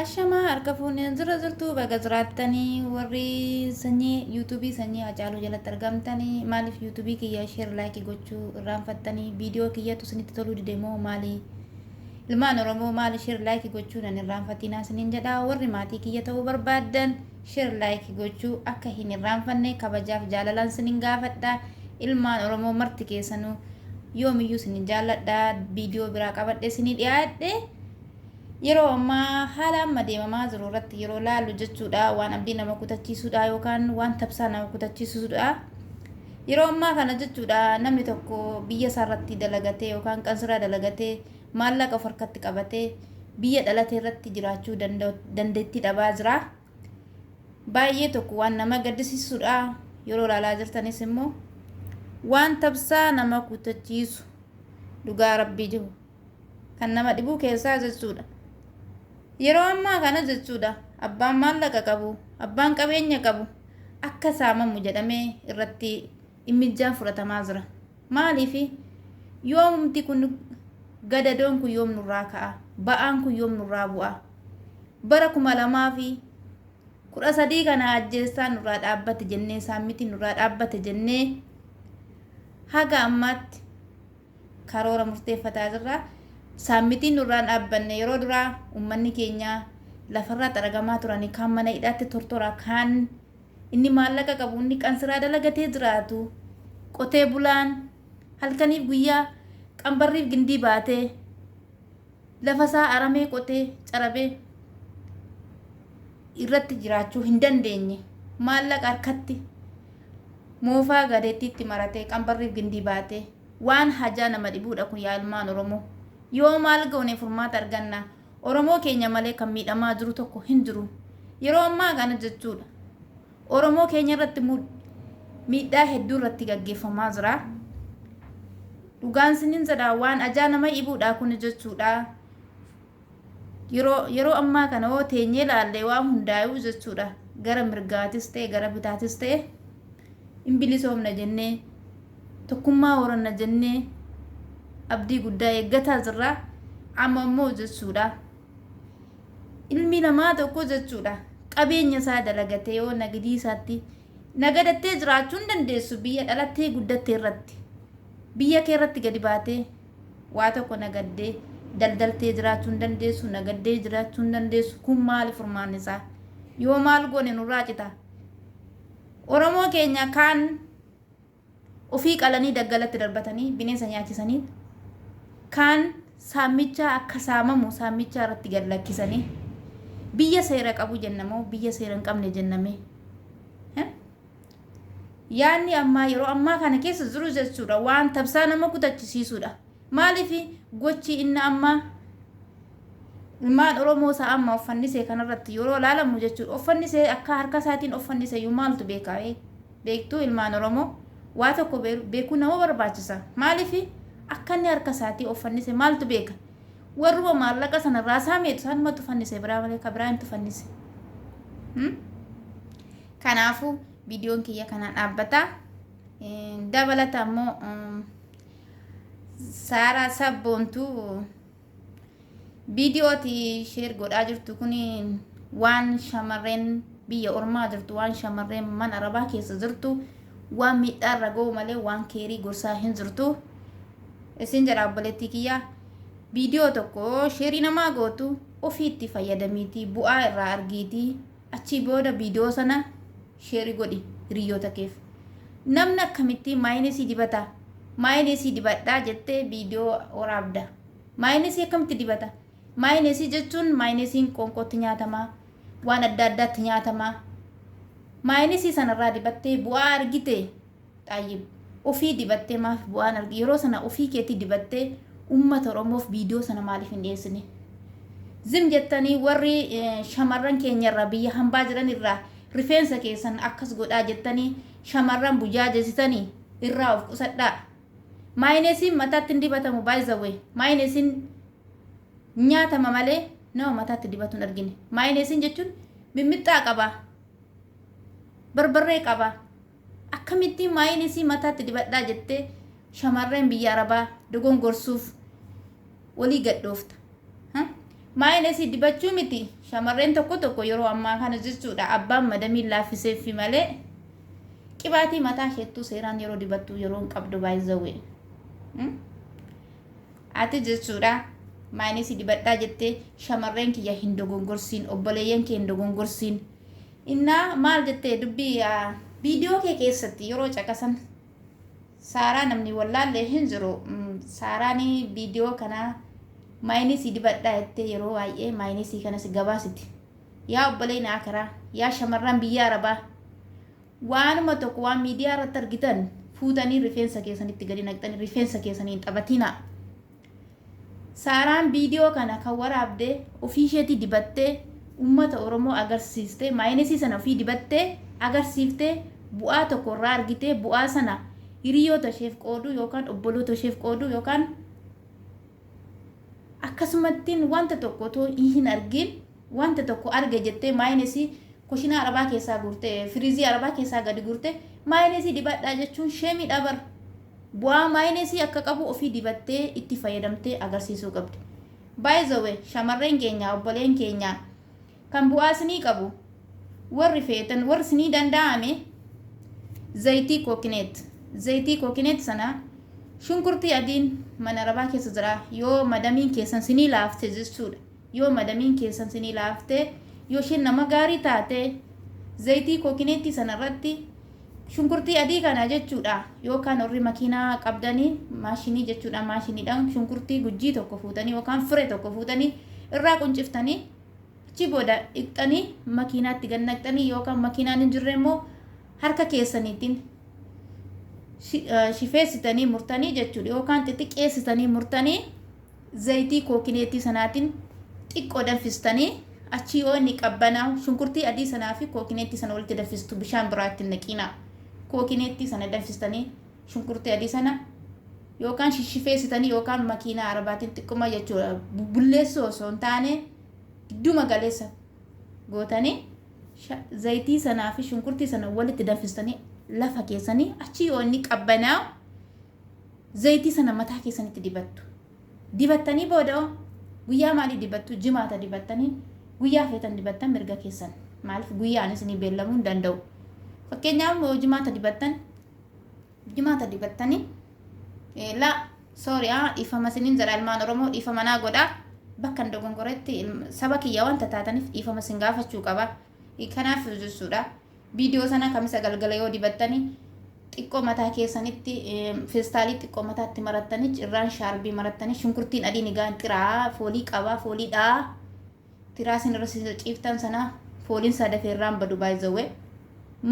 Ashamaa harka fuuneen zirra zirtuu baga jiraattanii warri sanyii yuutuubii sanyii hacaaluu jalatti argamtanii maaliif yuutuubii kiyya sheer laayikii gochuu irraanfattanii viidiyoo kiyyatu isinitti toluu dide moo maali ilmaan oromoo maali sheer laayikii gochuu nan irraanfatinaa isiniin jedha warri maatii kiyya ta'uu barbaaddan sheer laayikii gochuu akka hin irraanfanne kabajaaf jaalalaan isiniin gaafadha ilmaan oromoo marti keessanuu yoomiyyuu isiniin jaalladha viidiyoo biraa qabadhe isinii dhiyaadhe yeroo ammaa haala amma deemamaa jiru irratti yeroo laallu jechuudha waan abdii nama kutachiisudha yookaan waan tabsaa nama kutachiisudha. Yeroo ammaa kana jechuudha namni tokko biyya isaa irratti dalagatee yookaan qansiraa dalagatee maallaqa of harkatti qabatee biyya dhalatee irratti jiraachuu dandeettii dhabaa jira. Baay'ee tokko waan nama gaddisiisudha yeroo laalaa jirtanis immoo waan tabsaa nama kutachiisu dhugaa rabbii jiru. Kan nama dhibuu keessaa jechuudha. Yeroo ammaa kana jechuudha abbaan maallaqa qabu, abbaan qabeenya qabu akka saamamu jedhamee irratti immijjaan fudhatamaa jira. Maaliif yoomumti kun gadadoon kun yoom nurraa ka'a? Ba'aan kun yoom nurraa bu'a? Bara kuma lamaa fi kudha sadii kana ajjeessaa nurraa dhaabbate jennee saammitiin nurraa dhaabbate jennee haga ammaatti karoora murteeffataa jirra. Saammitiin nurraa hin dhaabbanne. Yeroo duraa ummanni keenya lafarraa xaragamaa turanii kaan mana hidhaatti tortoraa kaan inni maallaqa qabu inni qansiraa dalagatee jiraatu qotee bulaan halkaniif guyyaa qambarriif gindii baatee lafa isaa aramee qotee carabee irratti jiraachuu hin dandeenye maallaqa harkatti moofaa gadeettiitti maratee qambarriif gindii baatee Waan hajaa nama dhibuudha kun yaa ilmaan Oromoo. Yoo maal goone furmaata arganna? Oromoo keenya malee kan miidhamaa jiru tokko hin jiru. Yeroo ammaa kana jechuudha. Oromoo keenya irratti immoo miidhaa hedduu irratti gaggeeffamaa jira. Dhugaan sinin jedha waan ajaa nama dhibuudha kun jechuudha. Yeroo yeroo ammaa kana hoo teenyee laallee waan hundaayuu jechuudha gara mirgaatis ta'e gara bitaatis ta'e in bilisoomna jennee tokkummaa horanna jennee abdii guddaa eeggataa jirra amma immoo jechuudha ilmi namaa tokko jechuudha qabeenya isaa dalagatee yoo nagidii isaatti nagadattee jiraachuu hin dandeessu biyya dhalattee guddatte irratti biyya kee irratti gadi baatee Waa tokko nagaddee daldaltee jiraachuu hin dandeessu, nagaddee jiraachuu hin dandeessu. Kun maali furmaanni isaa? Yoo maal goone nurraa cita? Oromoo keenya kaan ofii qalanii daggalatti darbatanii bineensa nyaachisanii kaan saamichaa akka saamamu saamichaa irratti gad lakkisanii biyya seera qabu jenna moo biyya seera hin qabne jennamee? Yaanni ammaa yeroo ammaa kana keessa jiru jechuudha waan tabsaa nama kutachisiisuudha. Maaliif gochi inni amma ilmaan Oromoo isaa amma offannisee kanarratti yeroo laalamu jechuudha. Offannisee akka harka isaatiin offannise iyyuu maaltu beekaa'ee beektuu ilmaan Oromoo waa tokko beekuu nama barbaachisa. Maaliif akka inni harka isaatii offannise maaltu beeka? Warruma maallaqa sana irraa saameetu isaanumatu fannise biraa malee ka biraa hin tufannise. Hmm? Kanaafuu viidiyoon kiyya kanaan dhaabbata. Dabalata immoo Saaraa Sabboontuu viidiyooti sheer godhaa jirtu kun waan shamarreen biyya ormaa jirtu waan shamarreen mana arabaa keessa jirtu waan miidhaa irra ga'u malee waan keerii gorsaa hin jirtu. Isin jedha obboleettii kiyya viidiyoo tokko sheerii namaa gootu ofiitti fayyadamiitii bu'aa irraa argiitii Achii booda video sana sheri godhi hiriyyoota keef. Namni akkamittii maayinesii dibata maayinesii dibadhaa jettee video woraabda. Maayinesii akkamitti dibata? Maayinesii jechuun maayinesiin qoonqootti nyaatama, waan adda addaatti nyaatama. Maayinesii sanarraa dibattee bu'aa argite? Xaayyib. Ofii dibattee maaf bu'aan arg yeroo sana ofii keetii dibattee ummata oromoof viidiyoo sana maaliif hin dhiyeessine? Zim jettanii warri shamarran keenya irraa biyya hambaa jiran irraa rifeensa keessan akkas godhaa jettanii shamarran bujaajessitani irraa of qusadhaa. Maayinesiin mataatti hin dibatamu by the way. Maayinesiin nyaatama malee nama mataatti dibatu hin argine. Maayinesiin jechuun mimmixxaa qaba. Barbarree qaba. Akkamittiin maayiin isii mataatti dibadhaa jettee shamarreen biyya arabaa dogongorsuuf walii gad dhoofta. Ha? Maayiin isii dibachuu miti shamarreen tokko tokko yeroo ammaa kana jechuudha abbaan madamiin laaffiseeffi malee qibaatii mataa isheettuu seeraan yeroo dibattuu yeroo hin qabdu baay'izawwee. Ati jechuudha maayiin isii dibadhaa jettee shamarreen kiyya hin dogongorsiin obboleeyyan kee hin dogongorsiin Innaa maal jette dubbi video kee keessatti yeroo caqasan saaraa namni wallaalle hin jiru saaraan video kana maayinisii dibadhaa jettee yeroo baay'ee maayinisii kanas gabaasiti yaa obboleeyna akaraa yaa shamarran biyya arabaa waanuma tokko waan miidiyaa irratti argitan fuutanii rifeensa keessanitti gadi naqxanii rifeensa keessaniin taphatiinaa Saaraan viidiyoo kana kan waraabde ofiisheetii dibattee uummata Oromoo agarsiiste, maayinesii sana ofii dibattee agarsiifte, bu'aa tokko irraa argite, bu'aa sana hiriyoota isheef qooduu yookaan obboloota isheef qooduu yookaan akkasumattiin wanta tokko otoo hin argiin, Wanta tokko arge jettee maayinesii kushinaa arabaa keessaa guurte firizii arabaa keessaa gadi guurte maayinesii dibadhaa jechuun sheemiidha bar. Bu'aa maayinesii akka qabu ofii dibattee itti fayyadamtee agarsiisuu qabdi. By the way shamarreen keenya obboleen keenya kan bu'aa isinii qabu warri feetan warri isinii danda'ame zayitii kookineet zayitii kookineet sana shunkurtii adiin mana arabaa keessa jira yoo madamiin keessan isinii laafte jechuudha. Yoo madamiin keessan sinii laaftee yoshiin nama gaarii taate zayitii kookineettii sana irratti shunkurtii adii kana jechuudha yookaan warri makiinaa qabdanii maashinii jechuudha maashiniidhaan shunkurtii gujjii tokko fuutanii yookaan fure tokko fuutanii irraa qunciftanii achi booda dhiqxanii makiinaatti gad naqxanii yookaan makiinaan hin jirre immoo harka keessaniitiin shi- eh, shifeessitanii murtanii jechuudha yookaan xixiqqeessitanii murtanii Zayitii kookineetii sanaatiin xiqqoo danfistanii achii yoo inni qabbanaa'u shunkurtii adii sanaa fi kookineetii sana walitti danfistu bishaan biraa itti hin naqiinaa. Kookineetii sana danfistanii shunkurtii adii sana yookaan shishifeessitanii yookaan makiinaa arabaatiin xiqquma jechuudha bulleessuu osoo hin taane gidduma galeessa gootanii sha- zayitii sanaa fi shunkurtii sana walitti danfistanii lafa keessanii achii yoo inni qabbanaa'u Zayitii sana mataa keessanitti dibattu. Dibattanii booda'oo guyyaa maalii dibattu? Jimaata dibattanii guyyaa feetan dibattan mirga keessan. Maaliif guyyaan isinii beellamuu hin danda'u. Fakkeenyaaf yoo jimaata dibattan jimaata dibattanii eh, laa sooriyaa dhiifama isiniin jedha ilmaan Oromoo dhiifama naa godhaa bakka hin dogongoretti ilm- saba kiyya wanta taataniif dhiifama isin gaafachuu qaba. Eh, Kanaaf jechuudha. Viidiyoo sana kamisa galgala yoo dibattani xiqqoo mataa keessanitti feestaalii xiqqoo mataatti marattanii cirraan shaarbii marattanii shunkurtiin adiin egaan xiraa foolii qabaa foolii dhaa tiraa isin irra isin ciiftan sana fooliin isaa dafee irraan badu baay'izawwe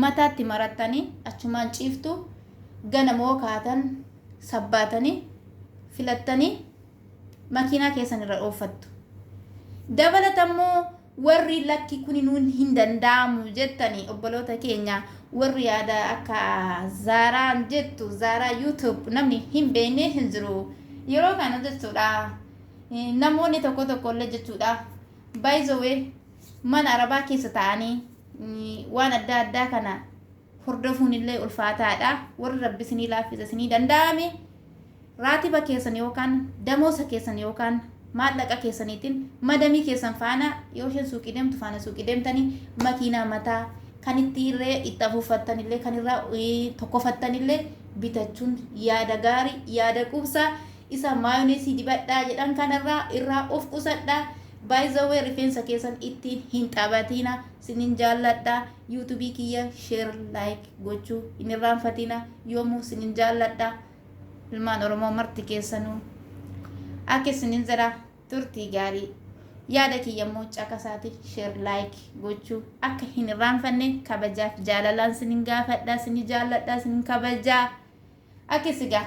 mataatti marattanii achumaan ciiftu gana moo kaatan sabbaatanii filattanii makiinaa keessan irra ooffattu. Dabalatammoo Warri lakki kuni nuun hin danda'amu jettani obboloota keenya warri yaada akka Zaaraan jettu Zaaraa YouTube namni hin beekne hin jiru. Yeroo kana jechuudha namoonni tokko tokko illee jechuudha by the way mana arabaa keessa ta'anii waan adda addaa kana hordofuunillee ulfaataadha. Warri Rabbi isinii laaffise isinii danda'ame raatiba keessan yookaan damoosa keessan yookaan maallaqa keessaniitiin madamii keessan faana yoo isheen suuqii deemtu faana suuqii deemtanii makiinaa mataa kan itti irree itti afuuffattanillee kan irraa tokkofattanillee bitachuun yaada gaarii yaada quubsaa isa maayoneesii dibadhaa jedhan kanarraa irraa of qusadhaa baay'izawwee rifeensa keessan ittiin hin taphatiina sinin jaalladhaa. YouTube kiyya share like gochuu hin irraanfatina yoomuu sinin jaalladha ilmaan oromoo marti keessanuu akka isinin jedha turtii gaarii yaada kiyya immoo caqasaati share like gochuu akka hin irraanfanne kabajaaf jaalalaan sinin gaafadha sini jaalladha sinin kabajaa akka isigaa